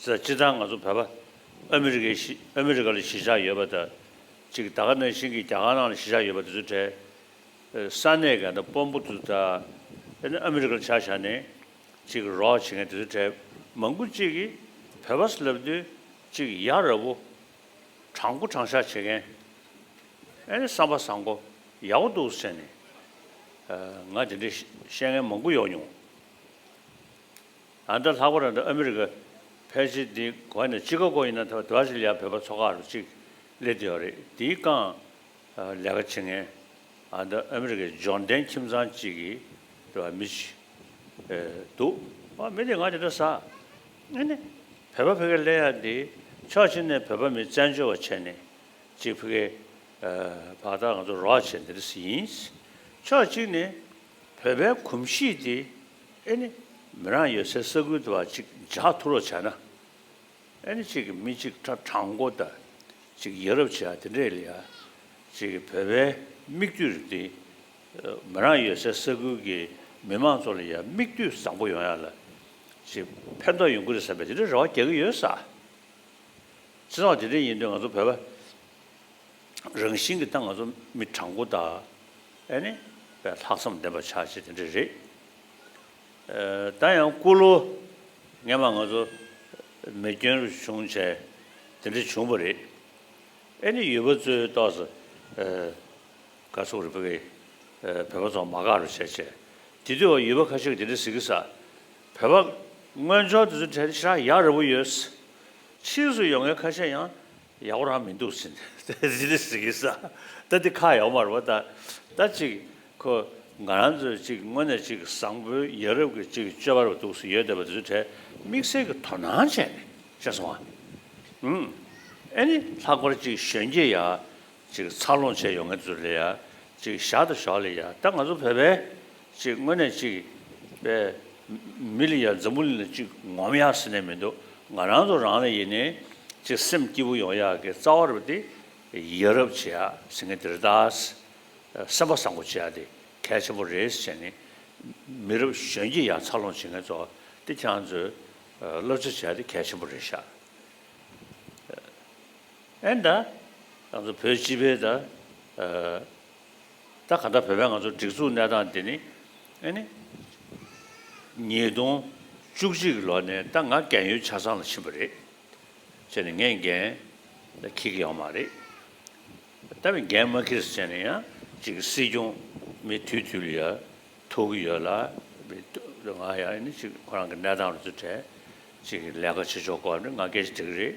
ཟེར་སྤྱིར་བཏང་ང་ཚོ་བོད་པ་ཨ་མི་རི་ཀའི་གཞི་ཨ་མི་རི་ཀ་ལ་གཞིས་ཆགས་ཡོད་པ་དང། གཅིག་ད་ག་ནང་བཞིན་གྱི་རྒྱ་གར་ནང་ལ་གཞིས་ཆགས་ཡོད་པ་དེ་ཚོའི་གྲས། ས་གནས་འགའ་ན་དཔོན་པོ་དུ་དང། དེ་ནི་ཨ་མི་རི་ཀ་ལ་ཆ་བཞག་ནས་གཅིག་རོགས་བྱེད་མཁན་དེ་ཚོའི་གྲས་མང་པོ་གཅིག་གིས་བོད་པ་ས་ལབ་དུས་གཅིག་ཡ་རབས་བོ། དྲང་པོ་དྲང་བཞག་བྱེད་མཁན། ཨེ་བསམ་པ་བཟང་པོ་ཡག་པོ་འདུག་བསམ་ནས། ང་དེ་འདྲའི་བཤད་མཁན་མང་པོ་ཡོང་མྱོང། ཨ་མྲ་ལྷག་པར་ཨ་མྲ་ཨ་མི་རི་ཀ་ཕལ་ཆེར་འདི་གོ་ནས་ཅི་ག་གོ་ཡིན་ན་ཐ་བ་བར་ཅི་ལིའ་བོད་པ་ཚོ་ཁ་རུ་ཅིག་སླེབས་ཏེ་ཡོད་རེད་འདིའི་རྐང་ལས་ཀ་བྱེད་ངན་ཨ་མྲ་ཨ་མི་རི་ཀའི་འབྱོར་ལྡན་ཁྱིམ་ཚང་ཅིག་གིས་དེ་བ་མི་བྱེད་ཨེ་འདུག་ཨ་མི་དེ་ང་དེ་འདྲ་ཟ་ཨེ་ནི་བོད་པ་ཕི་གེ་ལེ་ཡ་འདི་ཕྱོགས་ཕྱི་ནས་བོད་པ་མི་བཙན་བྱོལ་བ་བྱས་ནས་ཅིག་ཕི་གེ་བག་དག་ང་ཚོ་རོགས་བྱེད་འདི་འདྲ་ཟི་ཡིན་ཕྱོགས་གཅིག་ནས་བོད་པའི་གོམས་གཤིས་འདི། ཨེ་ནི། མི་རང་ཡོད་སའི་ས་ཁུལ་དུ་བ་གཅིག་ལྗགས་ཐུ་རོ་བྱ་ན། ཨེ་ནི་གཅིག་གི་མི་གཅིག་ཁྲ་གྲང་མགོ་བརྡ། གཅིག་ཡ་རབས་བྱ་དེ་འདྲས་ལ་ཡ། གཅིག་གི་བོད་པའི་མིག་ལྟོས་རིགས་འདི། མི་རང་ཡོད་སའི་ས་ཁུལ་གི་མི་མང་ཚོ་ལ་ཡ་མིག་ལྟོས་བཟང་པོ་ཡོང་ཡ་ལ། གཅིག་ཕན་ཐོག་ཡོང་གི་རེད་བསམ་པའི་དེ་འདྲའི་རེ་བ་རྒྱག་གི་ཡོད་ས། ཚེ་སྲོག་དེ་འདྲས་ཡིན་དུས་ང་ཚོ་བོད་པ། རང་བཞིན་གྱི་སྟངས་ང་ཚོ་མི་དྲང་པོ་དག་ཨེ་ནི། ལྷག་བསམ་ལྡན་པ་ཆགས་ཆེ་དེ་འདྲ་རེད། ད་ཡང་སྐུ་ལོ་ངན་པ་ང་ཚོ་མི་སྐྱོན་རུ་བྱུང་བྱས་དེ་འདྲ་བྱུང་བ་རེད། ཨེ་ནི་ཡུལ་བ་ཚོའི་རྟོགས་ས་ག་ཚུགས་རེད་བོད་པའི་བོད་པ་ཚོ་མ་དགའ་རུ་བྱས་བྱས་དེ་དུས་བ་ཡུལ་བ་ཁ་ཤས་ཀྱི་དེ་འདྲ་ཟིག་གི་ས་བོད་པ་དངོས་འབྱོར་དེ་ཚོའི་གྲས་དེ་ཤ་ཡག་རེ་བོ་ཡོད། ཕྱིས་སུ་ཡོང་མཁན་ཁ་ཤས་ཡང་ཡག་པོ་རང་མི་འདུག་ཟིན་ཟིན་ལི་ཟིག་གི་ས་ད་འདི་ཁ་ཡོག་མར་བ་ད་ད་ཅིག་ཁོ་ང་རང་ཚོས་ཅིག་དངོས་ནས་ཅིག་བཟང་པོའི་ཡ་རབས་ཀྱི་ཅིག་སྤྱོད་པར་བ་འདུག་ཟིན་ཡོད་བསྡད་པ་དེ་ཚོའི་གྲས་དམིགས་བསལ་གྱི་དོ་སྣང་བྱས་ནས་བཤད་སོང་བ་ཨུན་ཨེ་ནི་ལྷག་པར་ཅིག་གཞོན་སྐྱེས་ཡ་ཅིག་འཚར་ལོངས་བྱས་ཡོང་མཁན་ཚོ་ལ་ཡ་ཅིག་ཞག་དང་ཞོགས་ལ་ཡ་ད་ང་ཚོ་བོད་པའི། གཅིག་དངོས་གནས་གཅིག་པས། མི་ལ་ཡང་འཛམ་བུ་གླིང་ལ་གཅིག་ངོམ་ཡག་ཟེར་ནས་མི་འདུག་ང་རང་ཚོ་རང་ལ་ཡིན་ནའི་གཅིག་སེམས་སྐྱིད་པོ་ཡོང་ཡག་གི་རྩ་བ་རུ་དེ་ཡི་རབ་བྱེད་ཡག་ཟེར་མཁན་དེ་རེད་ད། སེམས་པ་བཟང་པོ་བྱེད་ཡག་དེ་གལ་ཆེན་པོ་རེད་ཟེར་ནས་མི་རབ་གཞོན་སྐྱེས་ཡག་འཚར་ལོངས་བྱེད་མཁན་ཚོ་དེ་ཁྱང་ཚོས་བློ་འཚོལ་བྱེད་ཡག་དེ་གལ་ཆེན་པོ་རེད་ཤག་ཨེ་ད། ཁྱང་ཚོ་བོད་སྤྱི་པའི་ད། ད་ག་འདྲ་བོད་པའི་ང་ཚོ་སྒྲིག་འཛུགས་གནས་སྟངས་འདི་ནི་ཨེ་ནི། ཉིས་སྟོང་བཅུ་གཅིག་གི་ལོ་ནས་ད་ང་རྒན་ཡོལ་ཆ་ཚང་ལ་ཕྱིན་པ་རེད། བྱས་ནས་ངས་རྒན་ལ་ཁྱི་གི་ཡོང་མ་རེད། ད་བས་རྒན་མ་ཁྱི་རེད་བྱས་ནས་ཡང་གཅིག་གི་སྲིད་སྐྱོང་མི་དུས་དུས་ལ་ཡ་ཐོག་གི་ཡོད་ལ། ང་ཡང་ཨེ་ནི་གཅིག་ཁོ་རང་གི་གནས་སྟངས་རུ་ཚུད་དྲན། གཅིག་ལས་ཀ་བྱེད་ཆོག་གོ་ཨེ་ནི་ང་སྐད་ཆ་འདྲི་གི་རེད།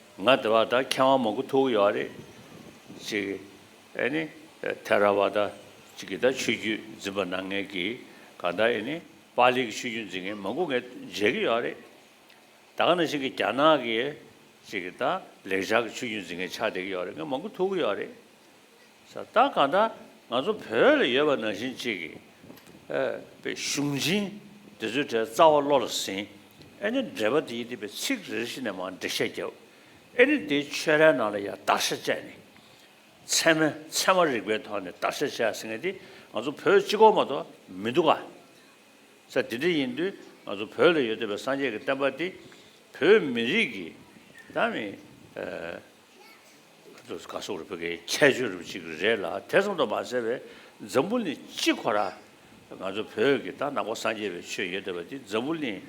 ང་དེ་བ་ད་མཁས་དབང་མང་པོ་ཐུག་གི་ཡོད་རེད། ཅིག། ཨེ་ནི། ཐེ་ར་བ་ད་ཅིག་གི་ད་ཆོས་རྒྱུད་འཛིན་པ་ནང་ངེད་ཀྱིས་ག་ད་ཨེ་ནི། པཱ་ལིའི་གི་ཆོས་རྒྱུད་འཛིན་མཁན་མང་པོ་ངས་མཇལ་གི་ཡོད་རེད། ད་ག་ནང་བཞིན་གི་རྒྱ་ནག་གི། ཅིག་གི་ད་ལེགས་བྱང་གི་ཆོས་རྒྱུད་འཛིན་མཁན་ཆགས་བསྡད་གི་ཡོད་རེད་ངས་མང་པོ་ཐུག་གི་ཡོད་རེད། ས་རྟགས་གང་དག་ང་ཚོ་བོད་ལ་ཡོད་པ་ནང་བཞིན་གཅིག་གིས་ཨེ་པའི་གཞུང་ཆེན་འདི་ཚོའི་གྲས་རྩ་བ་བློ་ལ་ཟིན་ཨེ་ནི་འགྲེལ་པ་དེའི་དེ་པའི་ཚིག་རེ་རེ་ཞིག་ནས་མང་འགྲེལ་བཤད་བརྒྱབ་ཨེ་ནི་དེའི་ཆོས་རྭའི་ནང་ལ་ཡང་བརྟག་བཤེར་བྱས་ནས་ཚད་མ་ཚད་མ་རིག་པའི་ཐོག་ནས་བརྟག་བཤེར་བྱས་ཟིན་ངེས་དེ་ང་ཚོ་བོད་སྤྱི་ཁོག་མ་གཏོགས་མི་འདུག་ག་ས་དེ་འདྲ་ཡིན་དུས་ང་ཚོ་བོད་ལ་ཡོད་འདོད་པའི་སངས་རྒྱས་ཀྱི་བསྟན་པ་དེ་བོད་མི་རིགས་ཀྱི་ད་མི་ཁྱེད་ཚོ་ག་སོག་རུ་ཕེབས་མཁན་ཁྱད་ཆོས་རུ་གཅིག་རེད་ལ་དེ་ཙམ་དུ་མ་ཟད་པའི་འཛམ་བུ་གླིང་སྤྱི་ཁོ་ར་ང་ཚོ་བོད་ཀྱི་ད་ནང་པ་སངས་རྒྱས་པའི་ཆོས་ཡོད་དེ་བ་དེ་འཛམ་བུ་གླིང་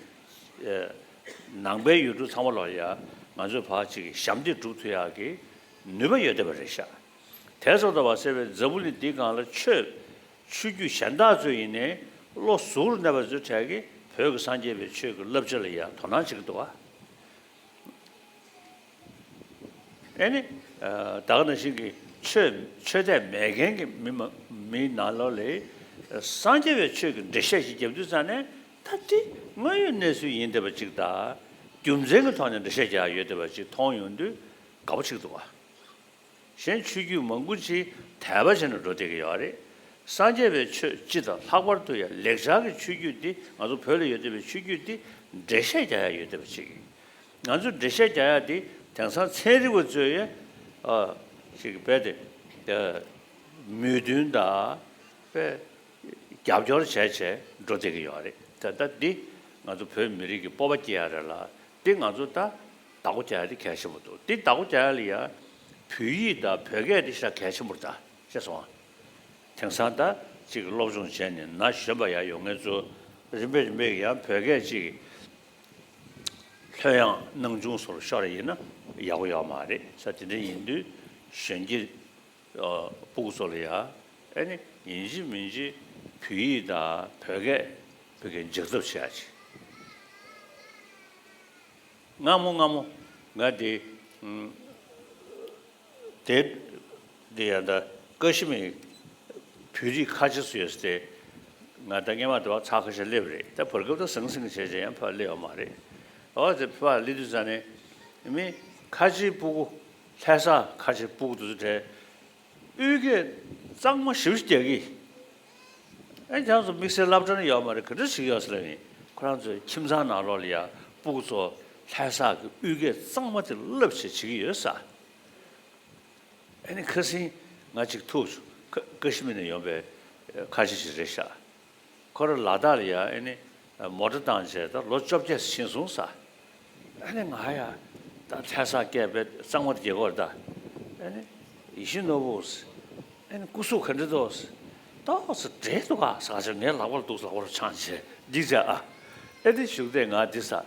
ནང་པའི་ཡུལ་གྲུ་ཚང་མ་ལ་ཡང་ང་ཚོའི་བར་གཅིག་ཞབས་འདེགས་སྒྲུབ་ཐུ་ཡག་གི་ནུས་པ་ཡོད་དེ་བ་རེད་ཤག་དེ་ཙམ་དུ་མ་ཟད་པའི་འཛམ་བུ་གླིང་འདི་གང་ལ་ཆོས་ཆུ་རྒྱུད་གཞན་དག་ཚོས་ཡིན་ནའི་བློ་གཟུ་རུ་གནས་པ་ཚོས་གྲས་ཀྱི་བོད་ཀྱི་སངས་རྒྱས་པའི་ཆོས་ཀྱི་བསླབ་བྱ་ལ་ཡང་དོ་སྣང་བྱེད་ཀྱི་འདུག་བ། ཨེ་ནི། བདག་ནི་ཞིག་གིས་ཆོས་དད་མེད་མཁན་གྱི་མི་ནག་ལོ་ལས། སངས་རྒྱས་པའི་ཆོས་ཀྱི་འགྲེལ་བཤད་ཞིག་རྒྱབ་དུས་ཙམ་ནས་ད་དེ་དངོས་ཡོད་གནས་ཚུལ་ཡིན་བསྡད་པ་ཅིག་དང། རྒྱུ་མཚན་གྱི་ཐོག་ནས་འགྲེལ་བཤད་རྒྱག་ཡོད་བསྡད་པ་ཅིག་མཐོང་ཡོང་དུས་དགའ་པོ་ཆིག་འདུག་བ། གཞན་ཆོས་བརྒྱུད་མང་པོ་ཅིག་དད་པ་ཆེ་ན་འགྲོ་བསྡད་ཀྱི་ཡོད་རེད། སངས་རྒྱས་པའི་ཆོས་སྤྱི་དང་ལྷག་པར་དུ་ཡང་ལེགས་སྦྱར་གྱི་ཆོས་བརྒྱུད་འདི་ང་ཚོ་བོད་ལ་ཡོད་བསྡད་པའི་ཆོས་བརྒྱུད་འདི་འགྲེལ་བཤད་རྒྱག་ཡ་ཡོད་བསྡད་པ་ཅིག། ང་ཚོས་འགྲེལ་བཤད་རྒྱག་ཡ་དེ་དེང་སང་ཚན་རིག་པ་ཚོས་ཡ་ཞིག་རྦད་དེ་མོས་མཐུན་དང་པེ་རྒྱབ་སྐྱོར་བྱས་བྱས་འགྲོ་བསྡད་ཀྱི་ཡོད་རེད་ད་ལྟ་འདི་ང་ཚོ་བོད་མི་རིགས་ཀྱི་སྤོབས་པ་སྐྱེ་ཡ་རེད་ལ་འདི་ང་ཚོ་ད་བདག་པོ་བྱ་ཡ་དེ་གལ་ཆེན་པོ་འདུག་འདི་བདག་པོ་བྱ་ཡ་ལ་ཡ་བོད་ཡིག་དང་བོད་སྐད་དེ་ཤ་གལ་ཆེན་པོ་རེད་ད་ཤེས་སོང་ང་དེང་སང་ད་ཅིག་སློབ་སྦྱོང་བྱས་ནས་ན་གཞོན་པ་ཡ་ཡོད་ངེས་ཚོ་རིམ་པས་རིམ་པས་ཡ་བོད་སྐད་ཅིག་ལྷོད་ཡངས་སྣང་ཆུང་སོར་ཤོར་ཡིན་ན་ཡག་པོ་ཡོད་མ་རེད་ས་དེ་འདྲ་ཡིན་དུས་གཞོན་སྐྱེས་སྤུག་ཚོ་ལ་ཡ་ཨེ་ནི་ཡིན་གཅིག་མིན་གཅིག་བོད་ཡིག་དང་བོད་སྐད་བོད་སྐད་འཇགས་ཐབས་བྱེད་ཡ་ཆེ་ངམ་མོ་ངམ་མོ་ང་དེ། དེ་འདི་ཡང་ད་ཀ་ཤི་མིར་བོད་རིགས་ཁ་ཆེ་སུ་ཡོད་ཟེར་ཏེ། ང་ད་སྙན་མ་དེ་བ་ཚ་ཁ་ཤ་སླེབས་རེད་ད་བར་སྐབས་ད་ཟང་ཟིང་བྱས་བྱས་ཡང་ཕ་སླེབས་ཡ་མ་རེད། འོ་དེ་ཕ་སླེབས་དུས་ས་ནི་མི་ཁ་ཆེའི་སྤུ་གུ་ལྷས་ས་ཁ་ཆེ་སྤུ་གུ་དུ་དུ་བྲལ། དབུས་སྐད་གཙང་མ་ཞིབ་ཞིབ་རྒྱག་གི། ཨེ་རྒྱ་མཚོ་དམིགས་བསལ་བསླབ་གྲྭར་ཡོད་མ་རེད་ག་འདྲ་ཞིག་ཡོད་ས་ལ་ཡིན་ཁོ་རང་ཚོའི་ཁྱིམ་ཚང་ནང་ལོག་ལ་ཡར་སྤུག་ཚོ་ལྷའི་ས་གི་དབུས་སྐད་གཙང་མ་དེ་བསླབ་བྱེད་བྱེད་ཀྱི་ཡོད་ས་ཨེ་ཁ་སིང་ང་གཅིག་ཐུག་བྱུང་ཁ་ཀ་ཤི་མི་ནས་ཡོང་པའི་ཁ་ཆེ་ཞིག་རེད་ཤག་ཁོ་རང་ལ་དྭགས་ལ་ཡར་ཨེ་མོ་ཏྲ་དང་མཇལ་དུ་ལོ་བཅོ་བརྒྱད་ཕྱིན་གསུང་ས། ཨ་ནི་ང་ཡ། ད་ལྷས་ས་སྐྱས་པས་གཙང་མར་དགྱེས་གོར་ད། ཨ་ནི། ཡིད་བཞིན་ནོར་བུ། ཨ་ནི་སྐུ་གཟུགས་ག་འདྲི་ཏོ། ཏོག་ཙེ་བྲེ་ཏོ་ག་ཟག་ཆ་ངའི་ལག་པར་འདུག་ལག་པར་ཆང་བྱས་འདི་བྱས་ཨ། ཨེ་འདི་བཞུགས་ཏེ་ང་འདི་ས།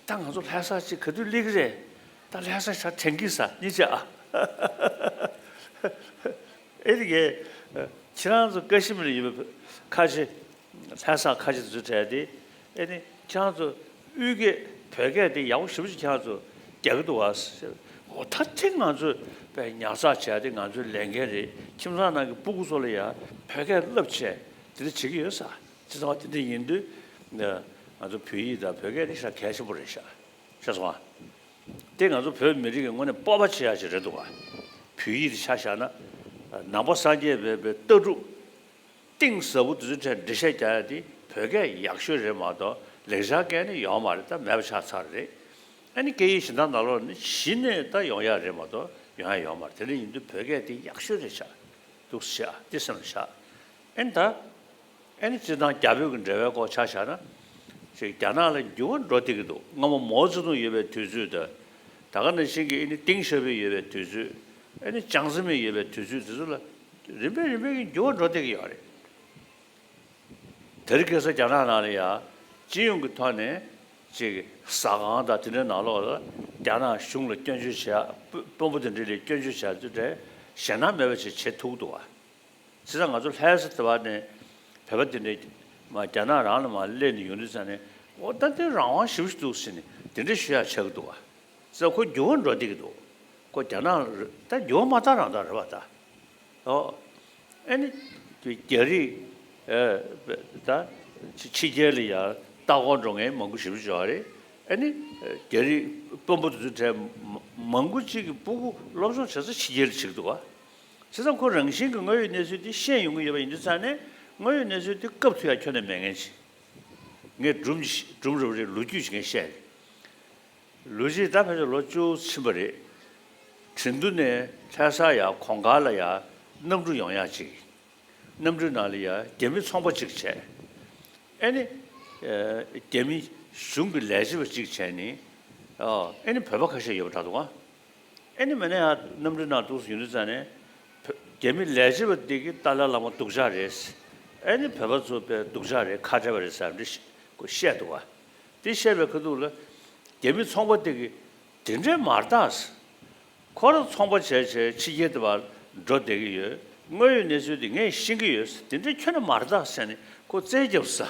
ད་ང་ཚོ་ལྷས་ས་ཅིག་ག་དུས་གླེགས་རེ། ད་ལྷས་ས་ཆ་དྲན་གི་ས་གཉིས་བྱས་ཨ། ཨེ་འདི་གས། ཁྱེད་རང་ཚོ་ཀ་ཤི་མིར་ཡོད་པའི་ཁ་ཆེ། ལྷས་ས་ཁ་ཆེ་འཛུལ་བྲལ་ཏེ། ཨེ་ནི། ཁྱང་ཚོ། དབུས་སྐད། བོད་སྐད་དེ་ཡག་པོ་ཞིབ་ཅིག་ཁྱང་ཚོ། རྒྱ་གི་འདུག་བ། ཧོ། ད་ཐེངས་ང་ཚོས། པའི་ཉར་ཚགས་བྱས་ཏེ་ང་ཚོའི་ལས་འགན་རེད། ཁྱིམ་ཚང་ནང་གི་སྤུ་གུ་ཚོ་ལ་ཡང། བོད་སྐད་བསླབ་ཆེད་དེ་འདྲ་བྱེད་ཀྱི་ཡོད་ས། ཅི་ཚང་བ་དེ་འདྲ་ཡིན་དུས། ང་ཚོ་བོད་ཡིག་དང་བོད་སྐད་ནི་ཧྲ་གལ་ཆེན་པོ་རེད་ཤག། ཤག་སོང་ཨ། དེ་ང་ཚོ་བོད་མི་རིགས་ཀྱི་ངོས་ནས་སྤོབས་པ་བྱེད་ཡག་ཅིག་རེད་འདུག་བ། བོད་ཡིག་དེ་ཆ་བཞག་ན། ནང་པ་སངས་རྒྱས་བས་པའི་ལྟ་གྲུབ། གཏིང་ཟབ་པོ་འདུག་འདི་འདྲ་འབྲི་བཤད་རྒྱ་ཡག་འདི་བོད་སྐད་ཡག་ཤོས་རེད་མ་གཏོགས་ལེགས་སྦྱར་སྐད་ནི་ཡོང་མ་རེད་ད་མེད་པ་ཆགས་ཚར་རེད། ཨ་ནི་སྐད་ཡིག་གཞི་མདངས་ནག་ལོར་ནི་གཞི་ནས་ད་ཡོང་ཡག་རེད་མ་གཏོགས་ཡོང་ཡ་ཡོང་མ་རེད་དེ་འདྲ་ཡིན་དུས་བོད་སྐད་འདི་ཡག་ཤོས་རེད་ཆགས་འདུག་བཤད་ཨ་འདི་སེམས་ལ་བཞག་ཨ་ནི་ད། ཨ་ནི་སྤྱིར་བཏང་རྒྱ་བོད་ཀྱི་འབྲེལ་བའི་སྐོར་ཆ་བཞག་ན། ཅིག་རྒྱ་ནག་ལ་འགྱུར་བ་འགྲོ་སྡད་ཀྱི་འདུག་སྔ་མོ་མའོ་ཙེ་ཏུང་ཡོད་པའི་དུས་ཚོད་དང། ད་ག་ནང་བཞིན་གྱི་ཨི་ནི་ཏིང་ཞོ་ཕེ་ཡོད་པའི་དུས་ཚོད། ཨེ་ནི་ཅང་ཟིན་མེད་ཡོད་པའི་དུས་ཚོད་དེ་ཚོ་ལ་རིམ་པས་རིམ་པས་ཀྱིས་འགྱུར་བ་འགྲོ་བསྡད་ཀྱི་ཡོད་རེད། དེར་གེ་སར་རྒྱ་ནག་ནང་ལ་ཡང་སྤྱི་ཡོངས་ཀྱི་ཐོག་ནས་ཅིག་ཟ་ཁང་དང་དེ་འདྲའི་ནང་ལོགས་ལ་རྒྱ་ནག་གཞུང་ལ་སྐྱོན་བརྗོད་བྱེད་དཔོན་པོ་དེ་འདྲས་ལས་སྐྱོན་བརྗོད་བྱ་རྒྱུ་དེ་ཞེད་སྣང་མེད་པ་ཞིག་བྱེད་ཐུག་འདུག་བ། བྱས་ཙང་ང་ཚོ་ལྷའི་ས་དེ་བ་ནས་བོད་པ་དེ་འདྲས་མ་རྒྱ་ནག་རང་ལ་མ་སླེབས་ནས་ཡོང་དུས་ཙང་ནས་ཨོ་ད་དེ་རང་དབང་ཞིབ་ཞུ་འདུག་ཟེར་ནས་དེ་འདྲས་ཞུ་ཡག་བྱས་ཀྱི་འདུག་བ། རྩ་ཁོ་རྒྱུ་བ་འགྲོ་སྡིག་འདུག་ཁོ་རྒྱ་ནག་ད་རྒྱུ་བ་མ་རྟག་རང་རྟག་རེད་པ་ད་ཨོ་ཨེ་ནི་དེ་རྒྱ་རིགས་ད་ཕྱི་རྒྱལ་ལ་ཡང་རྟག་དགོངས་འགྲོ་ངས་མང་པོ་ཞིབ་བརྗོད་བྱས་རེད་ཨེ་ནི་རྒྱ་རིགས་དཔོན་པོ་དེ་ཚོའི་གྲས་མང་པོ་གཅིག་གི་སྤུ་གུ་སློབ་སྦྱོང་བྱེད་ས་ཕྱི་རྒྱལ་ལ་ཕྱིར་འདུག་བ་བྱས་ཙང་ཁོ་རང་བཞིན་གྱི་དངོས་ཡོད་གནས་ཚུལ་དེ་ཤེས་ཡོང་གི་ཡོད་པ་ཡིན་དུས་ཚང་ནས་དངོས་ཡོད་གནས་ཚུལ་དེ་སྐབས་དུས་ཡང་ཁྱོན་ནས་མེད་ངེས་ཅི་ངས་སྒྲུབ་རུབ་རེད་ལོ་རྒྱུས་ཀྱི་ངས་བཤད་རེད། ལོ་རྗེས་ད་ཕན་ཚུན་ལོ་བཅུ་ཕྱིན་པ་རེད། དྲིན་དུ་ནས་ལྷས་ས་ཡ་གོང་ག་ལ་ཡ་གནམ་གྲུ་ཡོང་ཡག་ཅིག། གནམ་གྲུའི་ནང་ལ་ཡ་རྒྱ་མི་ཚོང་པ་ཅིག་བྱས། ཨེ་ནི། རྒྱ་མི་གཞུང་གི་ལས་བྱེད་པ་ཅིག་བྱས་ནི། ཨེ་ནི་བོད་པ་ཁ་ཤས་ཡོད་པ་དྲག་འདུག་ཨ། ཨེ་ནི་མེ་ན་ཡ་གནམ་གྲུའི་ནང་འདུག་ཡུན་དུ་བཙལ་ནས། རྒྱ་མི་ལས་བྱེད་པ་དེ་གི་ཏཱ་ལའི་བླ་མ་སྡུག་ཅག་རེད། ཨེ་ནི་བོད་པ་ཚོ་པའི་སྡུག་ཅག་རེད་ཁ་བྲལ་བ་རེད་ཟེར་རམ་འདྲི་བཤད་འདུག་ཨ། དེ་བཤད་པའི་ཁ་ཐུག་ལ། རྒྱ་མི་ཚོང་པ་དེ་གི་དེ་འདྲའི་མ་རྟགས་སེ། ཁོ་རང་ཚོང་པ་བྱས་བྱས་ཕྱི་རྒྱལ་དུ་བར་འགྲོ་བསྡད་ཀྱི་ཡོད། དངོས་ཡོད་གནས་ཚུལ་དེ་ངས་ཤེས་ཀྱི་ཡོད་སེ་དེ་འདྲའི་ཁྱོད་ནས་མ་རྟགས་བཤད་ནས་ཁོ་བཙན་རྒྱབ་ས།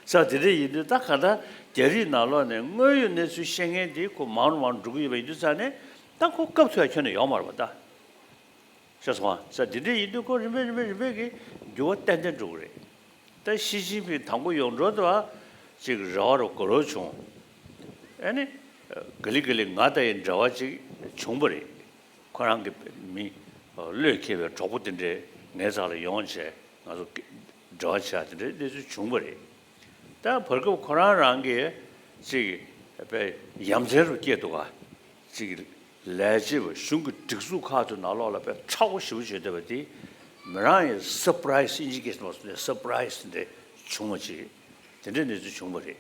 ས་དེ་འདྲ་ཡིན་དུས་ད་ག་ད་རྒྱ་རིགས་ནང་ལོག་ནས་དངོས་ཡོད་གནས་ཚུལ་ཤེས་མཁན་དེ་ཁོ་མང་རུང་མང་རུང་འགྲོ་གི་ཡོད་པ་ཡིན་དུས་ས་ནས་ད་ཁོ་སྐབས་དེ་བ་ཁྱོད་ནས་ཡོང་མ་རུང་བ་ད། ཤོག་ཚང་ས་འདི་འདྲའི་ཡིན་དུས་ཁོ་རིམ་པས་རིམ་པས་རིམ་པས་ཀྱིས་འགྱུར་བ་ཏན་ཏན་འགྲོ་གི་རེད། ད་ཞི་ཅིན་ཕིང་དང་པོ་ཡོང་འགྲོ་དུས་ཨ་ཅིག་རེ་བ་རུ་གོ་རོ་བྱུང། ཨ་ནི། ག་ལི་ག་ལི་ང་ལྟ་ཡི་འདྲ་བ་ཅིག་བྱུང་པ་རེད། ཁོ་རང་གི་མི། བློས་འཁེལ་བའི་གྲོགས་པོ་དེ་འདྲས་ངའི་ཚང་ལ་ཡོང་བྱས་ང་ཚོ། འབྲེལ་བ་བྱས་དེ་འདྲའི་གནས་ཚུལ་བྱུང་པ་རེད། ད་བར་སྐབས་ཁོ་རང་རང་གིས་ཅིག། ཡ་མཚན་རུ་སྐྱེས་འདུག་ག་ཅིག། ལས་བྱེད་པ་གཞུང་གི་སྒྲིག་འཛུགས་ཁག་ཏུ་ནང་ལོགས་ལ་དཔེ་ཁྲ་བོ་ཞེ་པོ་བྱེད་འདོད་པ་དེ་མི་རང་ཡིན Surprise Indication བ་སུ་ནས Surprise འདི་བྱུང་བ་ཅི་རེད་དེ་འདྲའི་གནས་ཚུལ་བྱུང་བ་རེད་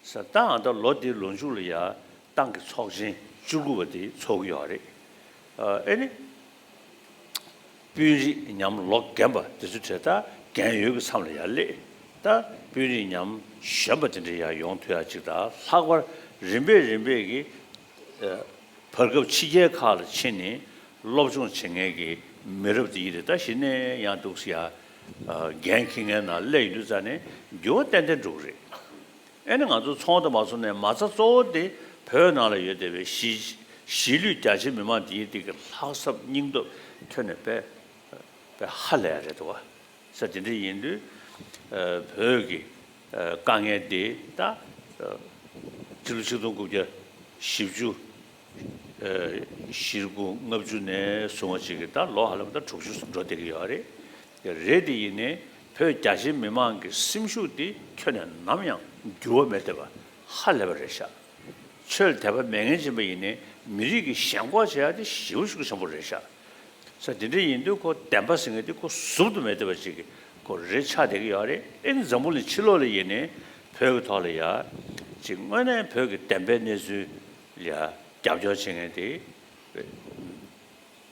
བསམ་ད་ང་ད་ལོ་འདིའི་ལོ་མཇུག་ལ་ཡང་ཏང་གི་ཚོགས་ཆེན་བཅུ་དགུ་བ་དེ་ཚོགས་ཀྱི་ཡོད་རེད་ཨེ་ནི། དཔོན་རིགས་ཉམས་ལོག་རྒན་པ་དེ་ཚོ་དེ་ལྟར་རྒན་ཡོལ་གྱི་མཚམས་ལ་ཡང་སླེབས་ད་དཔོན་རིགས་ཉམས་ཞན་པ་དེ་འདྲ་ཡང་ཡོང་ཐུ་ཡ་གཅིག་ད་ལྷག་པར་རིམ་པས་རིམ་པས་ཀྱི་བར་སྐབས་ཕྱི་རྒྱལ་ཁག་ལ་ཕྱིན་ནས་སློབ་སྦྱོང་བྱེད་མཁན་གྱི་མི་རབས་དེ་ཡིན་རེད་ད་ཞིག་ནས་ཡང་འདུག་ས་ཡ་རྒན་ཁྱི་ངན་ན་ཀླད་ཡིན་དུས་རྩ་ནས་འགྱུར་བ་ཏན་ཏན་འགྲོ་གི་རེད། ཨེ་ན་ང་ཚོ་ཚོང་དང་མ་ཚོང་ནས་མ་རྩ་གཙོ་བོ་དེ་བོད་ནང་ལ་ཡོད་བསྡད་པའི་གཞིས་ལུས་རྒྱ་ཆེ་མི་མང་དེའི་སྟེང་གི་ལྷག་བསམ་སྙིང་སྟོབས་ཐོས་ནས་པས་ཧ་ལས་རེད་དོ། ཚེ་དེ་འདྲ་ཡིན་དུས་བོད་ཀྱི་དཀའ་ངལ་འདི་དག་ཕྱི་ལོ་ཆིག་སྟོང་དགུ་བརྒྱ་བཞི་བཅུ་བཞིར་དགུ་ལྔ་བཅུ་ནས་བཟུང་བ་ཅིག་གིས་ད་ལོ་ཧ་ལམ་ད་དྲུག་ཅུ་སོ་འགྲོ་བསྡད་ཀྱི་ཡོད་རེད། རེད་དེ་ཡིན་ནའི་བོད་རྒྱ་ཆེའི་མི་མང་གི་སེམས་ཤུགས་དེ་ཁྱོན་ནས་ནམ་ཡང་འགྱུར་བ་མེད་བསྡད་པ་ཧ་ལས་པ་རེད་ཤག། ཆོས་དད་པ་མེད་ངན་ཅན་པ་ཡིན་ནའི་མི་རིགས་ཀྱི་ཞེན་ཁོག་བྱེད་ཡག་དེ་ཞེ་བོ་ཤུགས་ཆེན་པོ་རེད་ཤག། ས་འདི་འདྲ་ཡིན་དུས་ཁོ་བདེན་པ་ཟེར་ངེས་དུས་ཁོ་ཟུབ་ཏུ་མེད་བསྡད་པ་ཅིག་གི་སྐོར་རེ་ཆགས་བསྡད་ཀྱི་ཡོད་རེད་ཨེ་ནི་འཛམ་བུ་ལི་ཕྱི་ལོག་ལ་ཡིན་ནི་བོད་ཀྱི་ཐོག་ལ་ཡ་ཅིག་དངོས་གནས་བོད་ཀྱི་བདེན་པའི་གནས་ཚུལ་ལ་རྒྱབ་སྐྱོར་བྱེད་ངེས་དེ་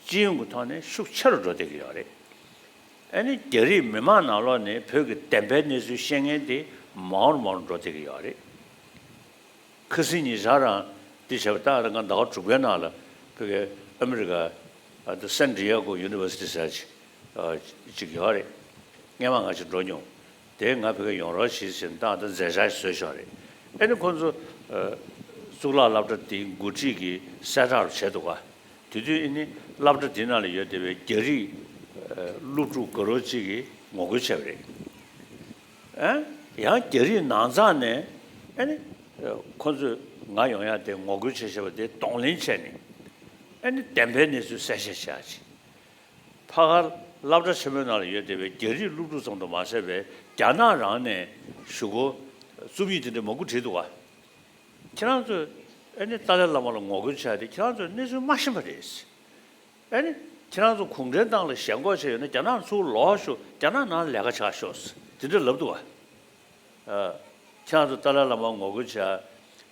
སྤྱི་ཡོངས་ཀྱི་ཐོག་ནས་ཤུགས་ཆེ་རུ་འགྲོ་བསྡད་ཀྱི་ཡོད་རེད་ཨེ་ནི་རྒྱ་རིགས་མི་མང་ནང་ལོག་ནས་བོད་ཀྱི་བདེན་པའི་གནས་ཚུལ་ཤེས་ངེས་དེ་མང་བོར་མང་བོར་འགྲོ་བསྡད་ཀྱི་ཡོད་རེད། ཁི་སི་ཉི་ཇཱ་རང་འདི་བྱས་པ་ཏག་ཏག་ང་ཟླ་བ་དྲུག་པའི་ནང་ལ་བོད་པའི་ཨ་མི་རི་ཀ་དུ San Diego University ཟེར་བ་ཅིག་ཡོད་རེད། རྔན་མ་ང་ཅིག་འགྲོ་མྱོང། དེས་ང་བོད་སྐད་ཡོང་རོགས་བྱེད་ཅེས་ཏག་ཏག་མཛད་འཆར་བཟོས་ཤོག་རེད། ཨེ་ནི་ཁོང་ཚོ་གཙུག་ལག་བསླབ་གྲྭ་འདི་འགོ་ཁྲིད་ཀྱི་གསལ་བསྒྲགས་རུ་བྱས་འདུག་ག་དེ་དུས་ཨེ་ནི་བསླབ་གྲྭ་འདི་ནང་ལ་ཡོད་བསྡད་པའི་རྒྱ་རིགས་སློབ་ཕྲུག་དགའ་རོགས་གཅིག་གིས་ངོ་རྒོལ་བྱས་པ་རེད། ཡང་རྒྱ་རིགས་ནང་ཚང་ནས་ཁོ་ཚོས་ང་ཡོང་ཡ་དེ་ངོ་རྒོལ་བྱེད་ཞེས་པ་དེ་གདོང་ལེན་བྱས་ནས་བདེན་པའི་གནས་ཚུལ་གསལ་བཤད་བྱ་ཆེད། ཕ་ཁ་བླ་བྲ་ཆེན་པོའི་ནང་ལ་ཡོད་བསྡད་པའི་རྒྱ་རིགས་ཀླུ་སྒྲུབ་ཚང་དུ་མ་ཟད་པའི་རྒྱ་ནག་རང་ནས་ཞུ་སྒོ་རྩོམ་ཡིག་དེ་འདྲ་མང་པོ་བྲིས་འདུག་བ། ཁྱེད་རང་ཚོས་ཏཱ་ལའི་བླ་མ་ལ་ངོ་རྒོལ་བྱ་ཡ་དེ་ཁྱེད་རང་ཚོས་གནས་ཚུལ་མ་ཤེས་པ་རེད། ཨ་ནི། ཁྱེད་རང་ཚོ་གུང་ཁྲན་ཏང་ལ་ཞེན་ཁོག་བྱས་ཡོད་ན་རྒྱ་ནག་ལ་ཚུར་ལོག་ཤོག་རྒྱ་ནག་ནང་ལས་ཀ་བྱ་ཤོག་དེ་འདྲ་ལབ་འདུག་ཨ། ཁྱེད་རང་ཚོ་ཏཱ་ལའི་བླ་མར་ངོ་རྒོལ་བྱས་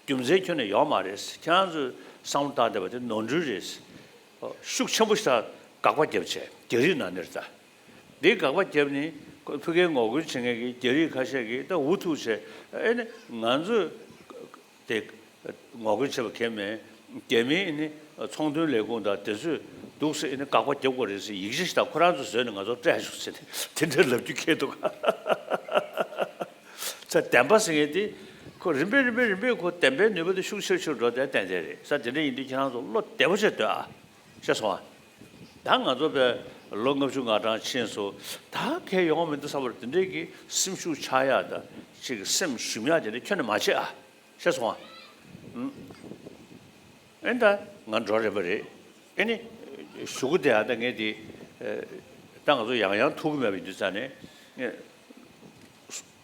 རྒྱུ་མཛད་ཁྱོན་ནས་ཡོག་མ་རེད་ཁྱེད་རང་ཚོས་བསམ་བློ་བཏང་བསྡད་པ་དེ་ནོར་འཁྲུལ་རེད། ཤུགས་ཆེན་པོ་ཞིག་དང་དགག་པ་རྒྱབ་བྱས་རྒྱ་རིགས་ནང་ནས་ཏཱ་ལའི་དགག་པ་རྒྱབ་ནས་ཕི་ཀའི་ངོ་རྒོལ་བྱེད་མཁན་གྱི་རྒྱ་རིགས་ཁ་ཤས་ཀྱིས་ཏཱ་འུ་ཐུག་བྱས་ཨ་ནི། ང་ཚོས། ཏེ། ངོ་རྒོལ་བྱེད་པ་ཁས་མི་འགལ་མིན་ནི་ཚོང་དོན་ལས་ཁུངས་དང་དེ་ཚོས་སྡུག་ཟེར་ནས་དགག་པ་རྒྱབ་དགོས་རེད་ཟེར་ཡིག་ཆ་ཞིག་དང་ཁོ་རང་ཚོས་བཟོས་ནས་ང་ཚོར་སྤྲད་ཆོག་ཟེར་ནས་དེ་འདྲ་ལབ་རྒྱུ་ཁེལ་འདུག་ག་ཚད་བདེན་པ་ཟེར་མཁན་དེ་ཁོ་རིམ་པས་རིམ་པས་རིམ་པས་ཁོ་བདེན་པའི་ནུས་པ་དེ་ཤུགས་ཆེར་ཆེར་འགྲོ་བསྡད་བསྡད་བསྡད་རེད་ས་དེ་འདྲ་ཡིན་དུས་ཁྱེད་རང་ཚོ་བློ་བདེ་པོ་བྱེད་འདོད་ཨ། ཤེས་སོང་ཨ། ད་ང་ཚོ་པས་ལོ་ལྔ་བཅུ་ང་གྲངས་ཕྱིན་སོ། ད་གལ་ཡོང་བ་མི་འདུག་ས་བར་དེ་འདྲས་ཀྱི་སེམས་ཤུགས་ཆགས་ཡག་ད་ཅིག་གི་སེམས་ཞུམ་ཡག་དེ་འདྲས་ཁྱོད་ནས་མ་བྱེད་ཨ། ཤེས་སོང་ཨ། ཨེ་ད་ང་འགྲོ་རན་པ་རེད་ཨེ་ནི། ཞུ་གུ་དེ་ཨ་ད་ངས་དེ། ད་ང་ཚོ་ཡང་ཡང་ཐུག་གི་མེད་པ་ཡིན་དུས་ས་ནས།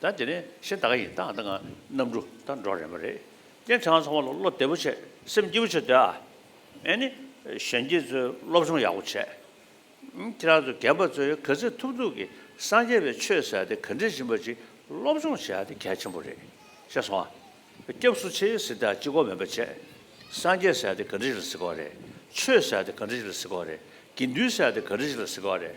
ད་དེ་ནི་ཤེས་བདག་ཡིན་སྟངས་དང་གནམ་གྲུ་དང་འགྲོགས་རན་པ་རེད། སྐྱེ་ཕྲེང་ཚང་མ་ལ་བློ་བདེ་པོ་བྱེད་སེམས་སྐྱིད་པོ་བྱེད་འདོད་ཨ། ཨེ་ནི། གཞོན་སྐྱེས་ཚོས་སློབ་སྦྱོང་ཡག་པོ་བྱེད། ཁྱེད་རང་ཚོ་རྒན་པ་ཚོས་ག་ཚད་ཐུབ་ཐུབ་ཀྱི་སངས་རྒྱས་པའི་ཆོས་ཟེར་དེ་ག་འདྲས་ཞིམ་པ་ཅིག་སློབ་སྦྱོང་བྱས་ཏེ་གལ་ཆེན་པོ་རེད་ཤེས་སོང་ཨ། སྐྱབས་སུ་མཆི་ཟེར་དེ་ཅི་གོ་མེད་པ་བྱེད། སངས་རྒྱས་ཟེར་དེ་ག་འདྲས་ཞིག་ལ་ཟེར་གོ་རེད། ཆོས་ཟེར་དེ་ག་འདྲས་ཞིག་ལ་ཟེར་གོ་རེད། དགེ་འདུན་ཟེར་དེ་ག་འདྲས་ཞིག་ལ་ཟེར་གོ་རེད།